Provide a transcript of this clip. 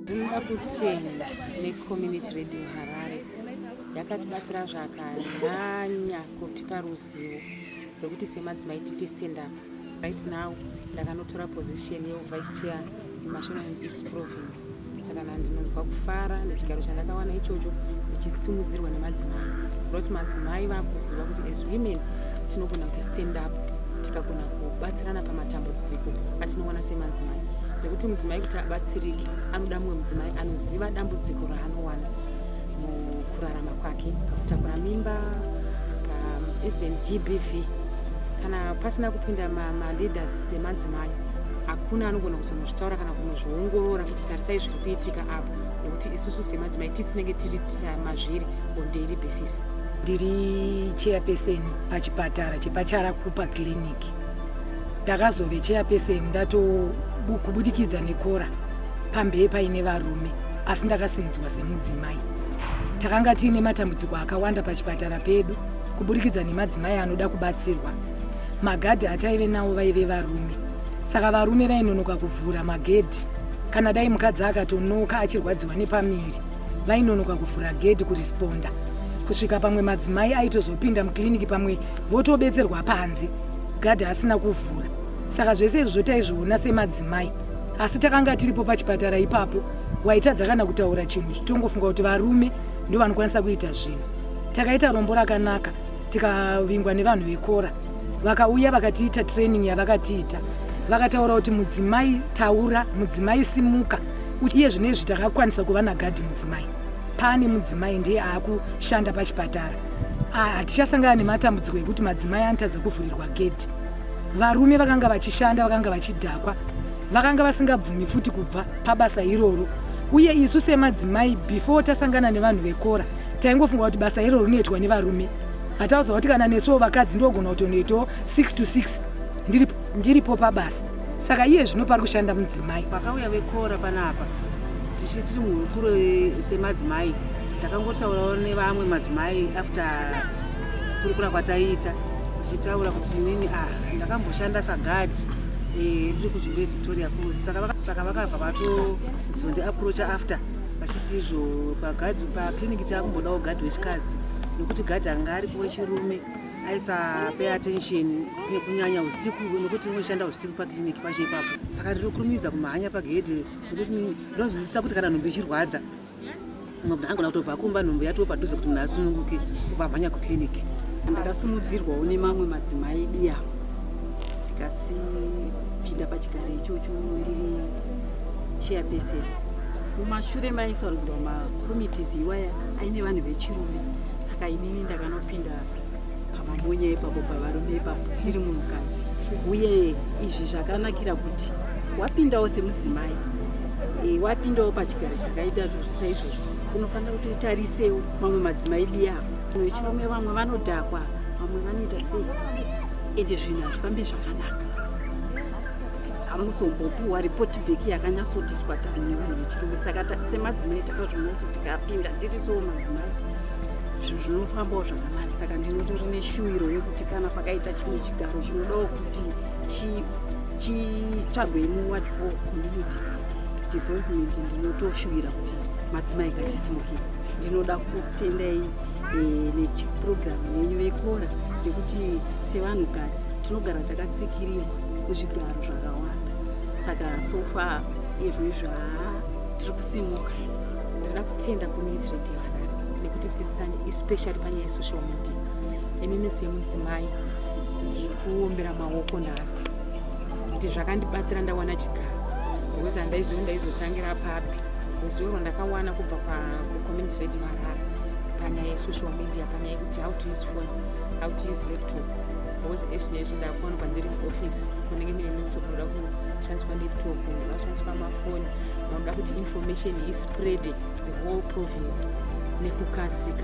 Tinoda kutenda necommunity radio Harare yakatibatsira zvakanyanya kutipa ruzivo rwekuti semadzimai tiite stand up right now ndakanotora position yevice chair Mashonaland East Province saka na ndinonzwa kufara nechigaro chandakawana ichocho ndichisimudzirwa nemadzimai not madzimai vakuziva kuti as women tinogona kuita stand up tikagona kubatsirana pamatambudziko atinoona semadzimai nekuti mudzimai kuti abatsirike anoda mumwe mudzimai anoziva dambudziko raanowana mukurarama kwake pakutakura mimba um, even gbv kana pasina kupinda maleaders semadzimai hakuna anogona kuzonozvitaura kana kunozviongorora kuti tarisai zviri kuitika apa nekuti isusu semadzimai tisinenge tiri mazviri on daily basis ndiri chairperson pachipatara chepacharakupa clinic ndakazove chairperson ndatokubudikidza nekora pambee paine varume asi ndakasimudzwa semudzimai takanga tiine matambudziko akawanda pachipatara pedu kuburikidza nemadzimai anoda kubatsirwa magadhi ataive nawo vaive varume saka varume vainonoka kuvhura magedhi kana dai mukadzi akatonoka achirwadziwa nepamiri vainonoka kuvhura gedhi kuresponda kusvika pamwe madzimai aitozopinda mukiriniki pamwe votobetserwa panze gadhi asina kuvhura saka zvese izvozvo taizviona semadzimai asi takanga tiripo pachipatara ipapo waitadza kana kutaura chinhu tongofunga kuti varume ndovanokwanisa kuita zvinhu takaita rombo rakanaka tikavingwa nevanhu vekora vakauya vakatiita training yavakatiita vakataura kuti mudzimai taura mudzimai simuka iye zvino izvi takakwanisa kuva nagadhi mudzimai paane mudzimai ndiye aakushanda pachipatara hatichasangana nematambudziko ekuti madzimai anotadza kuvhurirwa gedhi varume vakanga vachishanda vakanga vachidhakwa vakanga vasingabvumi futi kubva pabasa iroro uye isu semadzimai before tasangana nevanhu vekora taingofunga kuti basa iro rinoitwa nevarume hataudzwa kuti kana nesuwo vakadzi ndogona kutonoitawo 6 to 6 ndiripo, ndiripo pabasa saka iye zvino pari kushanda mudzimai pakauya vekora panapa tichi tiri muhurukuro semadzimai takangotaurawo nevamwe madzimai after kurukura kwataiita tichitaura kuti inini a ah, ndakamboshanda sagadhi eh, riri kuchimbe victoria falls saka vakabva vatozondiaproacha after vachiti izvo pagadhi paclinic taakumbodawo gadhi wechikazi nekuti gadhi anga aripo wechirume aisapay attention kunyanya usiku nekuti unoshanda usiku paclinic pacho ipapo saka ndinokurumidza kumhanya pagedhe nekuti ndinonzwisisa kuti kana nhumbu ichirwadza mumwe munhu angona kutobva kumba nhumbu yatoo padhuze kuti munhu asununguke kubva amhanya kuclinic ndakasumudzirwawo nemamwe madzimai biya ndikasipinda pachigaro ichocho ndiri chairperson mumashure maisarudzwa makomitis iwaya aine vanhu vechirume saka inini ndakanopinda pamamonya ipapo pavarume ipapo ndiri munhukadzi uye izvi zvakanakira kuti wapindawo semudzimai e, wapindawo pachigaro chakaita zvozvita izvozvo unofanira kuti utarisewo mamwe madzimai diyavo vechirume vamwe vanodhakwa vamwe vanoita sei ende zvinhu hazvifambe zvakanaka amuzombopiwa report back yakanyatsotiswa tani nevanhu vechirume saka semadzimai takazviona kuti tikapinda tiri soo madzimai zvinhu zvinofambawo zvakanani saka ndinotori neshuwiro yekuti kana pakaita chimwe chigaro chinodawo kuti chitsvagwe muward for community development ndinotoshuwira kuti madzimai katisimuke ndinoda kutendai eh, neprogramu yenyu vekora yekuti sevanhukadzi tinogara takatsikirirwa zvigaro zvakawanda saka sofa izvi izvi haa tiri kusimuka ndinoda kutenda community radio vana nekuti dzidzisani especially panyaya yesocial media inini semudzimai ndiri kuombera maoko nhasi kuti zvakandibatsira ndawana chigaro because handaiziva ndaizotangira papi ruzivo rwandakawana kubva pacommunity radio harare panyaya yesocial media panyaya yekuti how to use phone how to use laptop Boss Ashley zvindakuona pandiri muoffice kunenge mine laptop unoda kushandiswa laptop unoda kushandiswa mafoni unoda kuti information ispread the whole province nekukasika